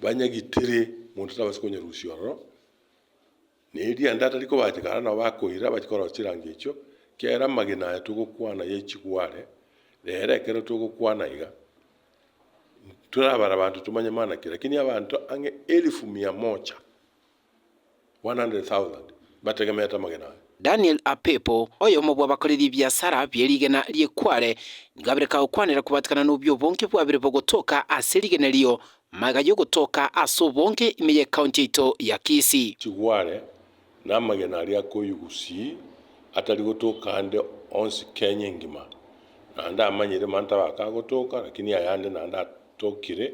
banyagitire, monto tabasi konyerusia ororo, na erianda atari kobachika ara nabo bakoira bachi korora chirango echio, kera amagena aya togokwana ya chigware, rero ekero togokwana iga, torabare abanto tomanye mana ki, lakini abanto ang'e elifu mia mocha 100,000 bategemeete amagena aye. Daniel Apepo, oyomo bw'abakoreri b'ebiasara bie rigena rie Kwale, nigo abire kagokwanera kobaatekana n'obi'obonge bwabire bogotoka ase rigena erio, magega y'ogotoka ase obonge ime y'ekaunti yaito ya Kisii. Chigware na amagena aria akoywa Gusii atari gotoka ande onsi Kenya engima. Naende amanyire manto abake agotoka, lakini ayande naende atokire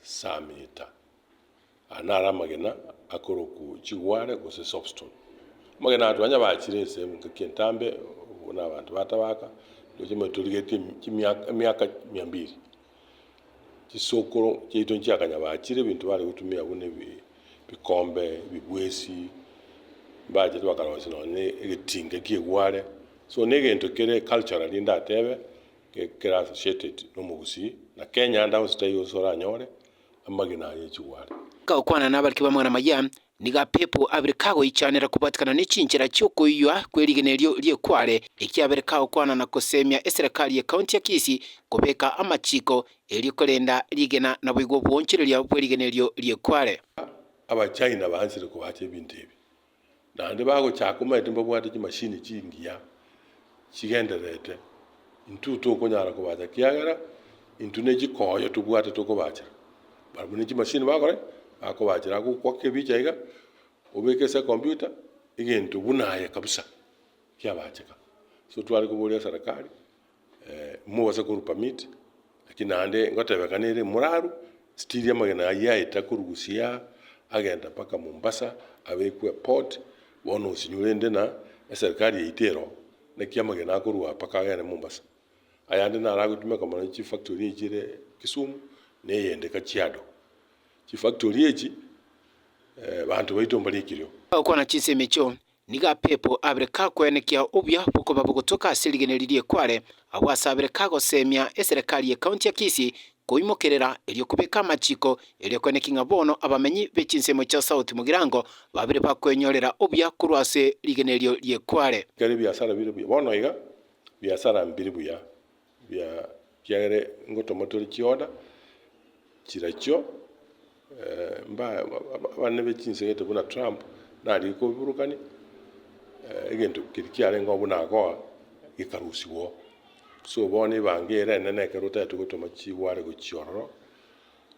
saa mita. Aya naro amagena akorokwu chigware gose soapstone. Amagena aya twanya bachire ase engaki entambe buna abanto batabaka ndoche moe torigetie chimiaka emiaka mia mbiri. Chisokoro chiaito nchiakanya bachire ebinto bare gotumia buna ebi ebikombe, ebibwesi, mbachete bakarosia nonye ne egetinga ekia egware. So ne egento kere culturally ndatebe, kera associated na omogusii na Kenya ande aonsi taiyo onsi oranyore amagena aye chigware. Gokwana nabariki b'amang'ana amaya, nigo apepo abere kagoichanera kobwatikana ne chinchera chi'okoiywa kw'erigena erio ri'ekware, ekiabere kagokwana na koseemia eserekari ye County ya Kisii kobeka amachiiko, erio korenda rigena naboigo obwoonchoreria bw'erigena erio ri'ekware. Abachina baansire kobaacha ebinto ebi. Naende bagochaka omanyete mbabwate chimashini chingiya chigendererete, intwe tokonyara kobacha kiagera intwe ne chikoyo tobwate tokobachera. Barabwo ne chimashini bakora ki? bakobachera agokwa kebicha iga, obeke ase ekombiuta, egento buna aye kabisa kiabacheka. So tware koboria serikali. mobase korwa permit, lakini naende ngotebeka nere moraru, still amagena ayio aete akorwa Busia, agenda mpaka Mombasa, abekwe port, bono osinywe rende na eserikari yaito ero, naki amagena akorwa aa mpaka agende Mombasa. Ayande naro agotumeka mono chifactory echi chire Kisumu, na eyende Kajiado. Chifactory echi, banto baito mbari ekerio. Okwana chinsemo echio, Nigo apepo abere kakwenekia obuya bokoba bogotoka ase erigeneri rie Kwale, agwo ase abere kagoseemia eserekari ye County ya Kisii koimokerera erio kobeka amachiko, erio kwenekia ng'a bono abamenyi be chinsemo chia South Mugirango babire bakwenyorera obuya korwa ase rigenerio rie Kwale. Kera ebiasara bire buya bono iga biasara mbiri buya bia kiagera ngotomotera chioda chirachio mba abana be chinsegete buna Trump naria kobiburukania egento keria kiarenge oo buna akoa gekarusiwa oo. So bono ebango ere enene ekero otagete gotoma chigware gochia ororo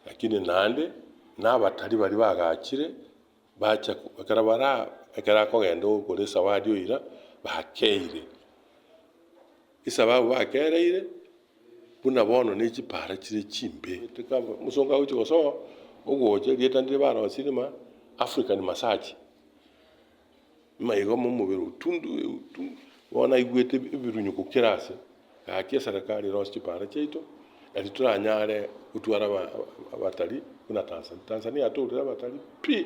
lakini naende na abatari baria bagachire bacha ekero baraa ekero akogenda okore esawadi oira bakeire. Esababu bakeereire buna bono ne chipaara chire chimbe. Mosongo agochia gosoa ogocha erieta ndire barosie rima African massage. Maigoma omobere otundu otundu bono naigwete ebirunyo gokera ase. Gaki eserekari erosie chipaara chiaito eri toranyare gotwara abatalii buna Tanzania. Tanzania atoorire abatalii pi!